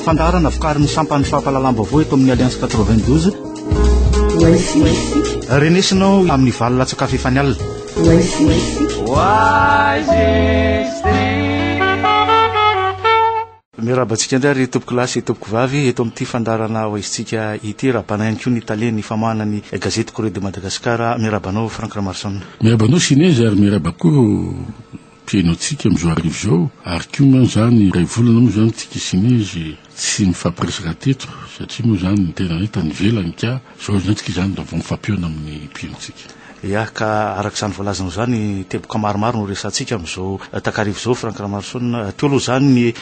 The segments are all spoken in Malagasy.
fandaharana vokarin'ny sampan'ny fampahalalam-baovao eto amin'ny alliance 92 renesinao amin'ny valo latsakafo efa ny alina Miarahaba antsika indray ry tompoko lahy sy tompoko vavy eto amin'ity fandaharana hoaizintsika ity. Rabana ihany koa ny talen'ny famahana ny gazety Courrier de Madagascar. Miarahaba anao Franck Ramarison. Miarahaba anao Sinezy ary miarahaba koa ireo mpihaino antsika amin'izao hariva izao. Ary koa moa izany iray volana moa izany tsika Sinezy tsy mifampiresaka teto satria moa izany ny tena hoe tany ivelany ka. Izao indray tsika izany raha vao mifampionona amin'ny mpirintsika. Ia ka araka izany voalazanao izany, teboka maromaro no resahantsika amin'izao takariva izao Franck Ramaroson. Teo aloha izany ny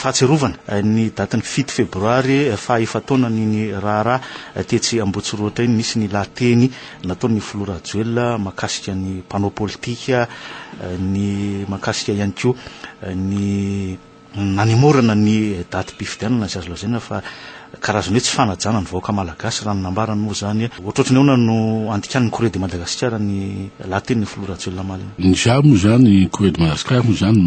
fahatsiarovana ny datin'ny fito febroary faha efa-taonan'iny raharaha tetsy Ambohitsirohotra iny. Nisy ny lahateny nataon'ny filoha Rajoelina mahakasika ny mpanao politika, ny mahakasika ihany koa ny. Nanemorana ny datim-pifidianana izay azo lazaina fa karazana hoe tsy fanajana ny vahoaka malagasy raha ny nambarany moa izany. Ohatrohatry ny ahoana no andikan'ny Courrier de Madagascar ny lahatenin'ny filoha Rajoelina omaly iny? Ny saha moa izany, Courrier de Madagascar moa izany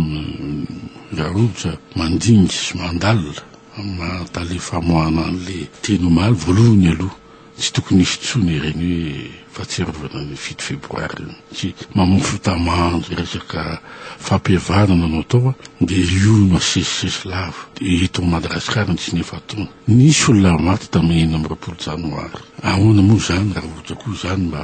raha ohatra mandinga sy mandalina amin'ny maha tale famoahana an'ilay teny omaly, voalohany aloha, Tsy tokony hisy intsony ireny hoe fahatsiarovana ny fito febroary ireny satria mamofy tamandry resaka fampihavanana no atao dia io no asesisesy lava dia eto Madagasikara no tsy nihafatona. Nisy olona maty tamin'ny enina amby roapolo janoary. Ahoana moa izany raha ohatra koa izany mba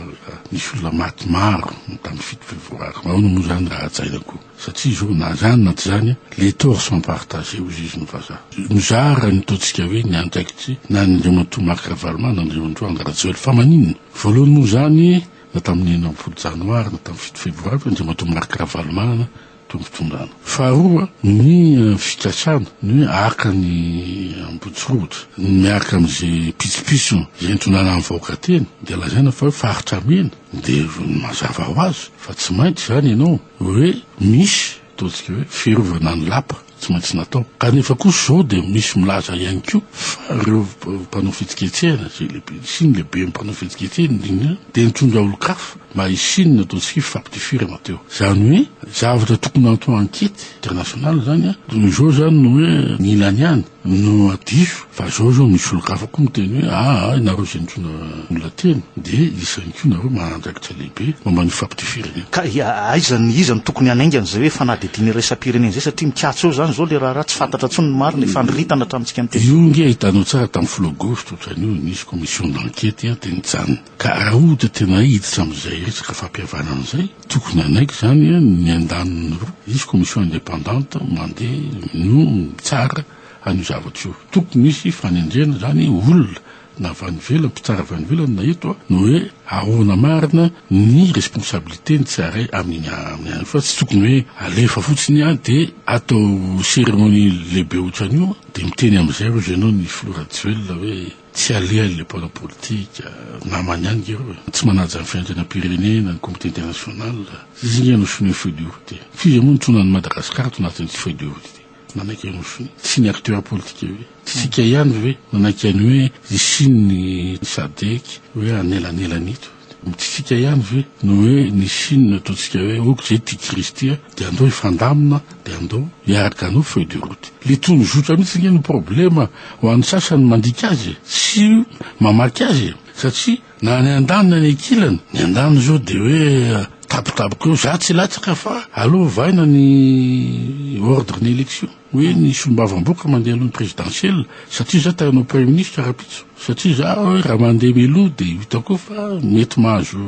nisy olona maty maro tamin'ny fito febroary. Ahoana moa izany raha hajaina koa. Satria zao na zany na tsy zany les torts sont partagés hoy Zizi ny vazaha. Mizara ny ataontsika hoe ny andraikitry na an' Andriamatoa Marc Ravaloman na an' Andriamatoa Andry Rajoelina. Fa maninona? Voalohany moa zany na tamin'ny enina ambin'ny folo janoary na tamin'ny fito febroary fa Andriamatoa Marc Ravaloman to mitondrana. Faharoa ny fikasana ny hoe haka ny Ambohitsirohotra miaraka amin'izay pitsopitsony izay nitondrana ny vahoaka teny dia lazaina fa hoe faritra mena. Dia mazava ho azy fa tsy maintsy izany ianao hoe misy ataontsika hoe fiarovana ny lapa tsy maintsy natao. Kanefa kosa izao dia misy milaza ihany koa fa ireo mpanao fihetsiketsehana izay lehibe sy ny lehiben'ny mpanao fihetsiketsehana indrindra dia nitondra olon-kafa mba hisian'ny ataontsika hoe fampitifirana teo. Izany hoe zavatra tokony atao ankety international izany an, toy izao izany no hoe ny ilany ihany. no diso fa zao zao misy olon-kafa koa miteny hoe aa ianareo zay nitondra olona teny de iza ihany koa nareo manana andraikitra lehibe momba ny fampitefiran'iny. Ka ia aiza ny iza no tokony hanaingana izay hoe fanadihadiana iraisam-pirenena izay satria mikatso eo izany izao ilay raharaha tsy fantatra intsony ny marina e, fandritana hatramintsika miteny. Io nge hitanao tsara tamin'ny folo aogositra otrany io nisy commission d'enquete dia nijanona ka raha ohatra tena hiditra amin'izay resaka fampihavanana izay, Tokony hanaiky izany ny andaniny roa, hisy commission indépendante mandeha no mitsara an'io zavatra io. Tokony hisy fanendrena izany olona na avy any ivelany, mpitsara avy any ivelany na eto ny hoe ahoana marina ny responsabilité ny tsirairay amin'iny amin'ny any fa tsy tokony hoe alefa fotsiny dia atao cérémonie lehibe ohatran'io dia miteny amin'izay hozy ianao ny filoha Rajoelina hoe Tsy alehany ilay mpanao politika, namany ihany nge reo e. Tsy manaja ny fiaintenam-pirenena, ny comité international. Izy nge no sonia feuille de route e. F'iza moa no tsy nona an'i Madagascar to anatin'ity feuille de route ity? Nanaiky an'i Rossy. Tsy ny acteurs politiques ve? Tsy tsika ihany ve nanaiky an'i hoe hisy ny sadec hoe anelanelan'ito? Mitsitsika ihany ve no hoe ny siny no ataontsika hoe ok zay tia Kristy a de andao hifandamina de andao hiaraka hanao feuille de route. Le tony zotra mihitsy ange no problema ho an'ny sasany mandika azy e, sy mamaky azy e, satria na ny andaniny na ny ankilany, ny andaniny zao de hoe tapitapika eo, za tsy latsaka fa aleo ovaina ny ordre ny élection. hoe ny solombavamboka mandeha aloha ny présidentielle satria izaho te hanao premier ministre rahampitso satria izaho hoe raha mandeha mialoha dia hitako koa fa mety mahazo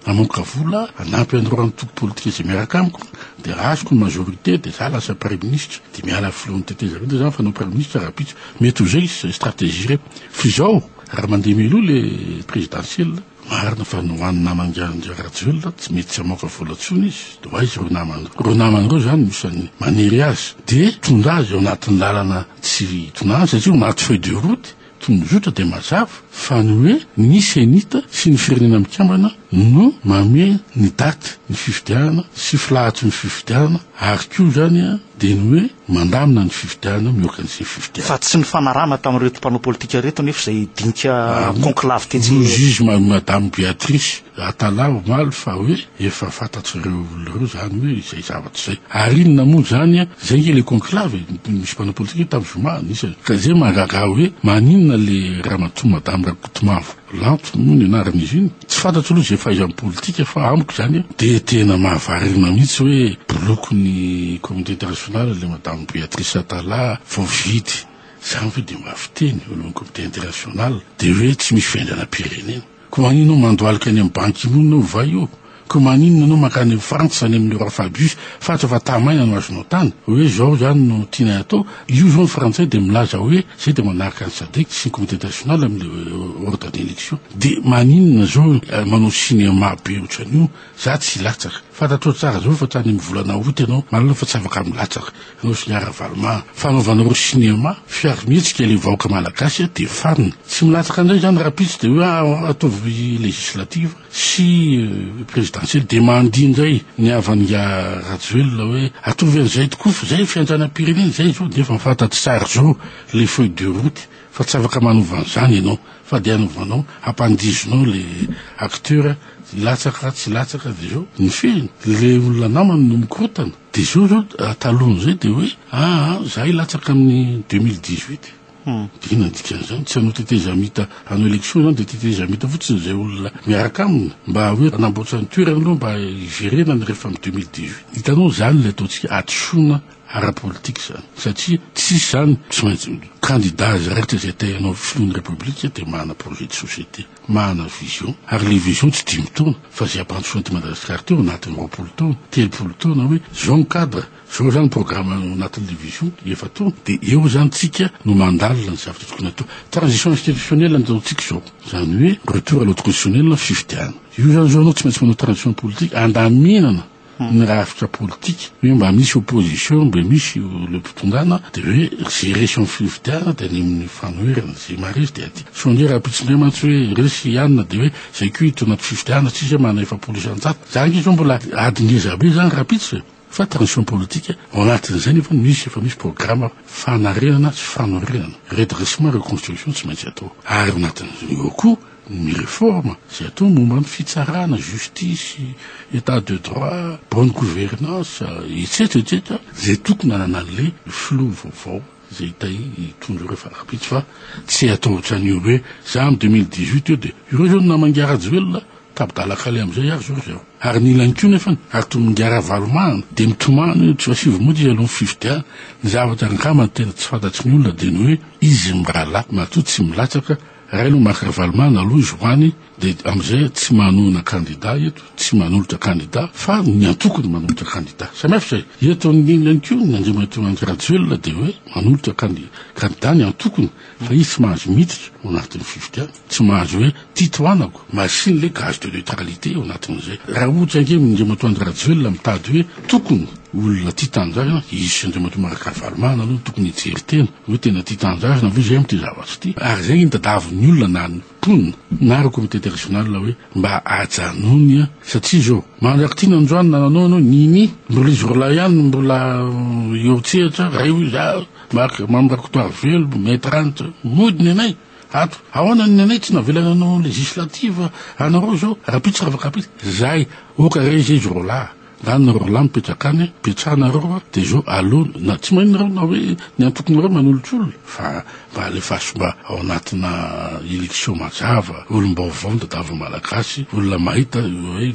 mamoaka vola hanampy an'ireo antoko politika izay miaraka amiko dia raha azoko ny majorité dia izaho lasa premier ministre dia miala amin'ny filohan'ny tetezamita dia izaho fanao premier ministre rahampitso mety ho izay stratégie ireo fa izao raha mandeha mialoha ilay présidentielle Marina fa ny ho an'ny naman'i Andry Rajoelina tsy mety tsy hamoaka vola intsony izy, dia ho aiza ireo namany ireo? Ireo namany ireo izany no isan'ny maniry azy dia hitondra azy eo anatin'ny lalana tsy hitonany satria eo anaty feuille de route tokony ho zotra dia mazava fa ny hoe ny cenit sy ny Firenena Mikambana no mamehy ny daty ny fifidianana sy filahatry ny fifidianana ary koa izany dia ny hoe Mandamina ny fifidianana mihoaka ny izay fifidianana. Fa tsy nifanarahana tamin'ireto mpanao politika ireto anefa izay dinika conclave tetsy. Hoy izy Madame Beatrice Atala omaly fa hoe efa fantatr'ireo olona ireo izany hoe izay zavatra izay. Ary inona moa izany an? Izay ange ilay conclave e! Nisy mpanao politika tany zoma anisany. Ka izay mahagaga ahy hoe maninona ilay ramatoa Madame Rakotomavo Lanto moa ny anaran'izy iny. Tsy fantatro aloha izay fahaizan'ny politika fa amiko izany dia tena mahavarina mihitsy hoe bolokin'ny communauté internationale ilay madame Béatrice Atala vao vidy izany ve dia mba fiteny eo alohan'ny comité international dia hoe tsy misy fiainganam-pirenena. Koa maninona mandohalika any amin'ny Ban Ki Moon ovay eo Ko maninona anao mankany frantsa any amin'ny roi fabius fatra fa tahamaina no azonao tany oe zao zany no tianay atao io zao ny frantsay de milaza oe zay de manaraka ny sadec sy ny comité international amin'ny ordre d'election de maninona zao manao cinéma be otran'io za tsy latsaka fantatrao tsara zao fa tany amin'ny volana aout ianao malalao fa tsy afaka milatsaka ianao sy ny ha ravaloma fanaovanareo cinéma fiary mihetsika le vahoaka malagasy de farina tsy milatsaka ndray zany raha pitsy de oe ataovy législative sy présidentielle dia mandihy indray ny havan'ingahy Rajoelina hoe ataovy an'izay tokoa fa izay ny fiantsanam-pirenena izay izao dia efa fantatra tsara izao ilay feuille de route fa tsy afaka manova an'izany ianao fa dia hanovanao hampandihinao ilay acteur hilatsaka tsy hilatsaka dia izao ny fehiny ilay olona namany no mikorotana dia izao izao talohan'izay dia hoe aa ah, ah, za hilatsaka amin'ny 2018 Inona dikan'izany? Tsy hanao tetezamita hanao élection izany dia tetezamita fotsiny izay olona miaraka aminy? Mba hoe hanamboatra ny toerana aloha mba hiverenany rehefa amin'ny deux mille dix huit. Hitanao izany ilay ataontsika hadisoana ara politique izany satria tsisy izany tsy maintsy candidat azy raikitra izay te hanao filohan'ny république dia manana projet de société, manana vision ary ilay vision tsy dimy taona fa izay hampandrosoana an'ity Madagasikara ity ao anatin'ny roapolo taona, telopolo taona hoe izao ny cadre. Zao zany programme anatin'ny division efa to de eo zany tsika no mandalina ny zavatra tokony atao. Transition institutionnelle no ataontsika zao. Zany hoe retour à l'ordre constitutionnel na fifidianana. Io zany zao anao tsy maintsy manao transition politique andaminana ny rafitra politika hoe mba misy opposition mba misy le mpitondana de hoe ze resy amin'ny fifidianana de any amin'ny fanoherana ze maharesy de aty. Sao ange rahampitso ndray mantsy hoe resy i Anona de hoe zay ko hiditra anaty fifidianana tsisy hoe manana efapolo isan-jato. Zany ange zao mbola ady ngezabe zany rahampitso e. Fa transition politique, ao anatin'izay nefa misy efa misy programa fanarenana sy fanorenana, redressement, reconstruction tsy maintsy atao. Ary ao anatin'izay eo koa ny reforme izay atao momba ny fitsarana, justice, etat de droit, bonne gouvernance, etsetra, etsetra, izay tokony hananan'ilay filoha vaovao. Zay tay hitondra ireo fanarapiantsy fa tsy hatao otrany io hoe za am deux mille dix huit eo de ireo zao ny namangiahy rajoelina tabdala kale amzay ary zao ry zareo ary ny ilany ko nefany ary tomingiahy ravalomahana de mitomany hoe tsy asio vomoa izy alohan'ny fifidianana ny zavatra angamba tena tsy fantatry ny olona de ny hoe izy mirahalahy matoa tsy milatsaka Rainao Marc Ravalomanana aloha izy hoany dia amin'izay tsy manohana kandida eto, tsy manolotra kandida fa ny antoko no manolotra kandida. Samihafa izay. Eto amin'ny inona koa ny Andriamatoa Andry Rajoelina dia hoe manolotra kandida ny antokony fa izy tsy mahazo miditra ao anatin'ny fifidianana, tsy mahazo hoe tia tohanako, merci an'ilay gage de neutralité ao anatin'izay. Raha ohatra ange ny Andriamatoa Andry Rajoelina mitady hoe tokony olona tia tanindrazana, izy sy Andriamatoa Marc Ravalomanana aloha no tokony hijery tena. Hoe tena tia tanindrazana ve JM ity zavatra ity? Ary izay no tadavin'ny olona na ny mponina na ireo comitete régional hoe mba ajanony a! Satria izao, mandrak'ity nandroany na nanao ianao nini, mbola izy roalahy ihany no mbola eo an-tsehatra, raivo izy a! Marc, Mamy Rakotoarivelo, Maître Ant, mody ny anay ato! Ahoana ny anay tsy navela nanao législative anareo izao? Rahampitso Ravakapitso, zay! Oka re izay izy roalahy. Na ny roalahy mipetraka any ipetrahanareo a de zo alony na tsy maninona nareo na hoe ny antokonareo manolotr'olona fa mba alefaso mba ao anatina election mazava olom-baovao ny tadiavin'ny malagasy olona mahita hoe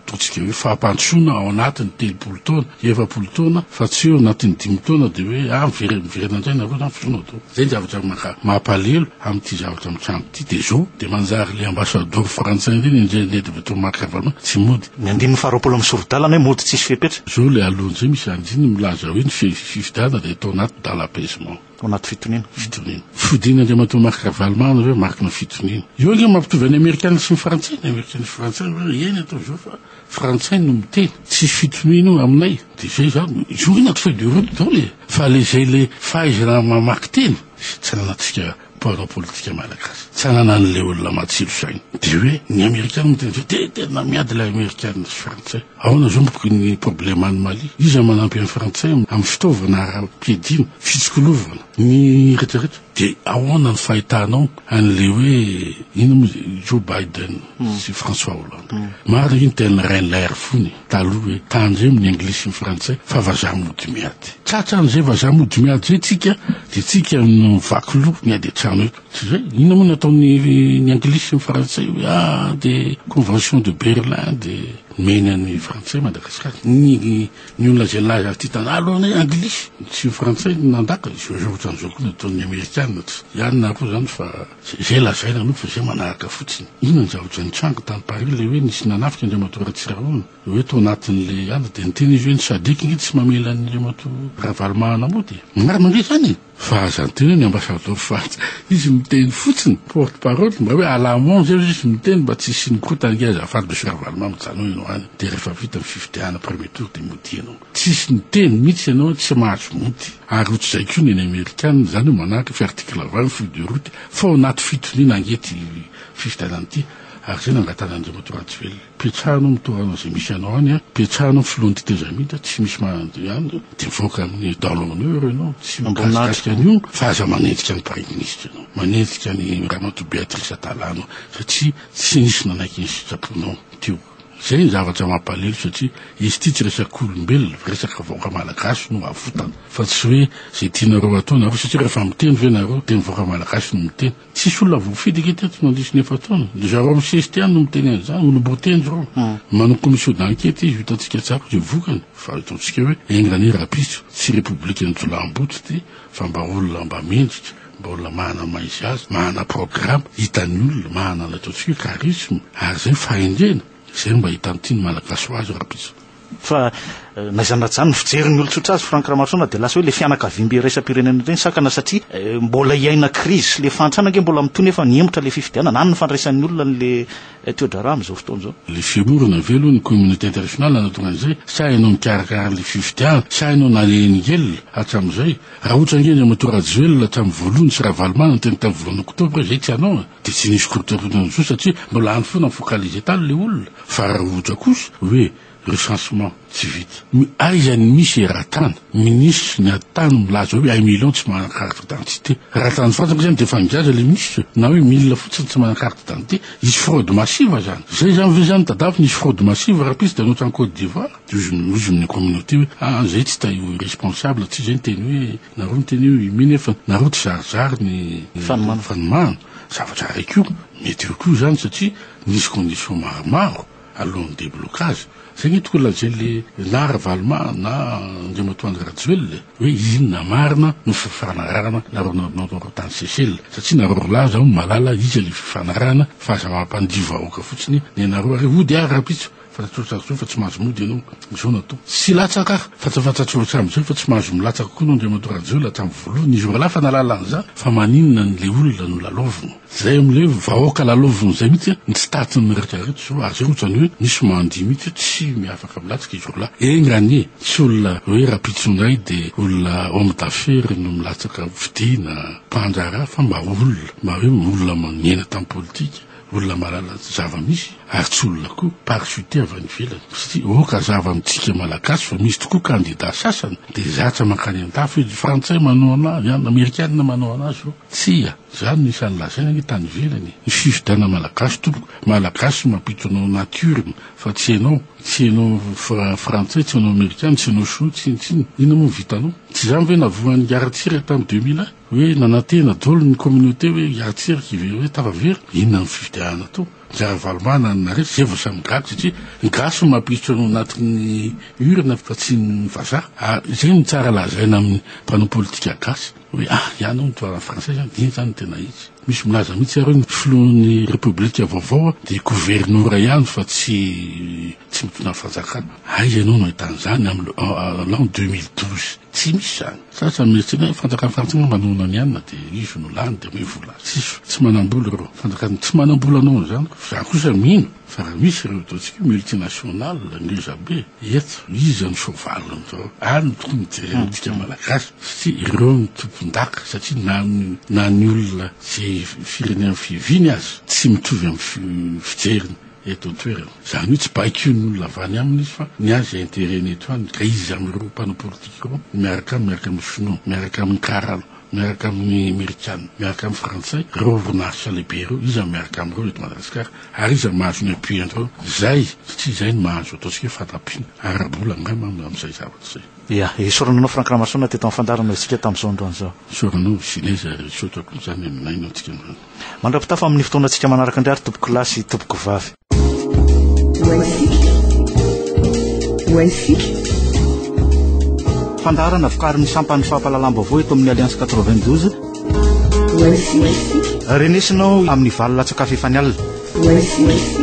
ataontsika hoe fampandrosoana ao anatiny telopolo taona efapolo taona fa tsy eo anatin'ny dimy taona de hoe ah mivery miverina indray nareo na filoha atao zay ny zavatra maka mampalelo Amin'ity zavatra mitranga ity dia izao dia manjary ilay ambasadaoro frantsay ireny indray nety avy eto Marc Ravalomanana tsy mody. Ny andininy faharoapolo amin'ny sori-dalana hoe mody tsisy fepetra. Izao ilay aloha indray misy andininy milaza hoe ny fifidianana dia atao anaty dans l'apaisement. Ao anaty fitoniana. Fitoniana. Fodian'i Andriamatoa Marc Ravalomanana hoe marikin'ny fitoniana. Io ange mampitovy an'i Amerikana sy ny Frantsay. Ny Amerikana sy ny Frantsay hoe eny atao izao fa. Frantsay no miteny, tsisy fitonihana aminay de zay za jour ina feuille de route daholo e! fa le zay le fahaizana mamaky teny sy tsy ananatsika mpanao politika malagasy tsy ananany le olona matsilo saina de hoe ny amerikana miteny zay de tena miady le amerikana sy frantsay aona zao ny problema any mali iza manampy any frantsay am fitaovana ara piadina fitsikolovana Ny retraretra dia ahoana ny fahitanao an'ilay hoe inona moa izy io Joe Biden sy François Hollande. Marina io ny tenin'i Reinler fony taloha hoe tandremo ny anglisy sy ny frantsay fa vazaha mody miady. Tratra an'izay vazaha mody miady izay tsika dia tsika no vaky loha miady an-trano eto. Tsy izay? Inona moa no ataon'ny anglisy sy ny frantsay hoe ah dia convention de Berlin dia nomeny an'ny frantsay Madagasikara. Ny Ny olona izay nilaza azy ity tantara aloha anie anglisy sy ny frantsay no nandaka izy io, izao ohatran'izao koa ny ataon'ny amerikana tsy ihany na roa izany fa izay lazaina aloha fa izay manaraka fotsiny. Inona ny zavatra nitranga tany Paris ilay hoe nisy nanafika Andriamatoa Ratsirahona hoe tao anatin'ilay ady dia niteny izy hoe ny Sadc nge tsy mamela an'Andriamatoa Ravalomanana mody e! Marina ve izany e? Fa aza adino ny ambassador Frantsa. Izy miteny fotsiny, porte parole, mba hoe à la amont zay ozy izy miteny mba tsy hisian'ny kotany nge azafady Monsieur Ravaloman mijanona ianao any de rehefa vita ny fifidianana premier tour de modia ianao. Tsisy miteny mitsy ianao tsy mahazo mody. Ary otrzay koa ny an'ny Amerikana izany hoe manaraka fi article vingt ny feuille de route fa ao anaty fitoniana ange ty fifidianana ty ary zay nangatahana an'Andriamatoa Rajoelina. Petsah anao mitovy amina izay misy anao any a! Petsah anao filohan'ny tetezamita, tsy misy mahandry any zao, de mivoaka amin'ny dans l'honneur ianao, tsy mikasikasika an'io fa aza manenjika ny praiminisitra ianao, manenjika an'i ramatoa Béatrice Atalano satria tsy nisy nanaiky ny sitraponao teo. Zay ny zavatra mampalelo satria izy ity tsy resak'olombelona, resaka vahoaka malagasy no avotany fa tsy hoe zay tianareo atao nareo satria rehefa miteny ve nareo de ny vahoaka malagasy no miteny. Tsisy olona voafidy ange teto nandiso ny efa-taona. Ry zareo misesy ty any no miteny an'izany, olom-boateny zareo. Manao commission d'enquête izy ho hitantsika tsara izay vokany fa hitantsika hoe enga anie rahampitso, tsy repoblikan'ny jolaham-boto ty fa mba olona mba mendrika, mba olona manana maha-izy azy, manana programme, hitan'ny olona, manana ny ataontsika hoe charisme ary izay fahendrena. Izay no mba hitan'ny tian'ny Malagasy ho azy rahampitso. Fa na izany na izany ny fijerin'ny olon-tsotra azy Franck Ramarosaona dia lasa hoe ilay fianakaviam-be iraisam-pirenena ireny sakana satria mbola hiaina crise sy ilay fahantrana ange mbola mitohy nefa nihemotra ilay fifidianana any ny fandraisan'ny olona an'ilay toedraharaha amin'izao fotoana izao. Ilay fiorina ve aloha ny communauté internationale hanatonga an'izay sa ianao nikarakara an'ilay fifidianana sa ianao nalehin'ingelona hatramin'izay? Raha ohatra ange Andriamatoa Rajoelina hatramin'ny voalohany sy Ravalomanana teny tamin'ny volana oktobra izay tsy ianao e! Dia tsy nisy korontana intsony satria nolany foana ny focaliser tany ilay olona fa roja kosa hoe recensement tsy vita. Mi aiza ny misy era tany ministre ny ady tany milaza hoe un million tsy manana carte d'identité. Raha tany frantsa moa zany dia efa nijaza ilay ministre na hoe mille fotsiny tsy manana carte d'identité. Hisy fraude massive zany. Izay zany ve zany tadavy nisy fraude massive rahampitso dia anao hatrany côte d'ivoire. Dia hozy hozy ny communauté hoe ah zay tsy taio iresponsable tsy zay ny teny hoe Nareo miteny eo i Mine fa nareo tizarizary ny fanomana. Zavatra iray koa, mety eo koa izany satria nisy conditions maromaro alohan'ny déblocage. Izay nge tokony lazain'le na Ravaloma na Andriamatoa Andry Rajoelina e! hoe inona marina no fifanarahana nareo naonaonareo tany Seychelles. Satria nareo roa lahy zaho no mahalala iza le fifanarahana fa aza mampandihy vahoaka fotsiny nenareo ary hody ary rapitso. Fantatrao tsara izao fa tsy mahazo mody ianao izao no atao. Tsy hilatsaka aho fa tsy fantatrao hatramin'izay fa tsy mahazo milatsaka koa ianao Andriamatoa Rajoelina hatramin'ny voalohany. Izy roalahy efa nahalala an'izany fa maninona ny le olona no lalaovina. Izay amin'ilay hoe vahoaka lalaovina izay mihitsy ny tsy tahatry ny rehetra rehetra izao ary izay ohatrany hoe misy mandia mihitsy hoe tsy afaka milatsaka izy roalahy. Enga anie tsy olona hoe rahampitso indray dia olona homme d'affaires no milatsaka vidiana, mpandraharaha fa mba olona mba hoe olona magnena tamin'ny politika. Olona mahalala zava-misy ary tsy olona koa parachute avy any ivelany satria oka zava amintsika malagasy fa misy tokoa kandida sasany dia zatra mankany an-dafy hoe ny frantsay manao anazy an, ny amerikana manao anazy ô! Tsia! Izany no isan'ny lazaina anie tany ivelany e! Ny fifidianana malagasy tompoko, malagasy no mampito anao natioriny fa tsy ianao, tsy ianao fra- frantsay, tsy ianao amerikana, tsy ianao shinoa, tsinontsinona. Inona moa no vitanao? Tsy izany ve navohan'i Ngaratsira tamin'ny deux mille un? Hoe nanantena daholo ny communauté hoe hiantsera kivy hoe tafa very, inona ny fifidianana atao? Ny ravalomanana no nareo, zay vao samy gaga satria ny gasy no mampiditra ao anatin'ny urne fa tsy ny vazaha. Ary zay no tsara lazaina amin'ny mpanao politika gasy hoe ah ihany ao ny tohanan'ny frantsay zany, dia iny zany no tena izy. Misy milaza mihitsy ary hoe ny filohan'ny repoblika vaovao dia governora ihany fa tsy Tsy mitondra ny fanjakana. Aiza ianao no ahitana izany am l'an deux mille douze? Tsy misy izany. Sasany mihetsikana hoe fanjakana frantsay angamba noana ny anona dia izy no lany dia omeo vola. Tsisy. Tsy manambola ireo. Fanjakana tsy manambola noho izany. Izaho kosa mino fa raha misy ireo ataontsika hoe multinational ngeza be eto, iza no soavaly amin'izao? Ary no tokony hojerena antsika Malagasy satria ireo no tompondaka satria na ny na ny olona izay firenena fiaviany aza tsy mitovy amin'ny fijeriny. eto an-toerana. Izany hoe tsy baikoin' ny olona avy any aminy izy fa ny azy interet ny eto aminy ka izy amin' ireo mpanao politika ireo miaraka aminy, miaraka amin' ny Shinoa, miaraka amin' ny Karana, miaraka amin' ny Amerikana, miaraka amin' ny Frantsay, ireo orinasa lehibe ireo, iza miaraka amin' ireo eto Madagasikara ary iza mahazo ny appui an' ireo izay satria izay no mahazo ataontsika hoe fandampiana ara-bola angamba amin' izay zavatra izay. Ia. Esorana anao Franck Ramasoana teto amin'ny fandaharana izao isika tamin'izao androany izao. Esorana anao Ginez ary misaotra akoa izany aminay no antsika androany. Mandra-pitafa amin'ny fotoanantsika manaraka indray ary tompoko lahy sy tompoko vavy. Fandaharana vokarin'ny sampan'ny fampahalalam-baovao eto amin'ny Alliance 92. Renesinao amin'ny valo latsaka efa ny alina. Wise is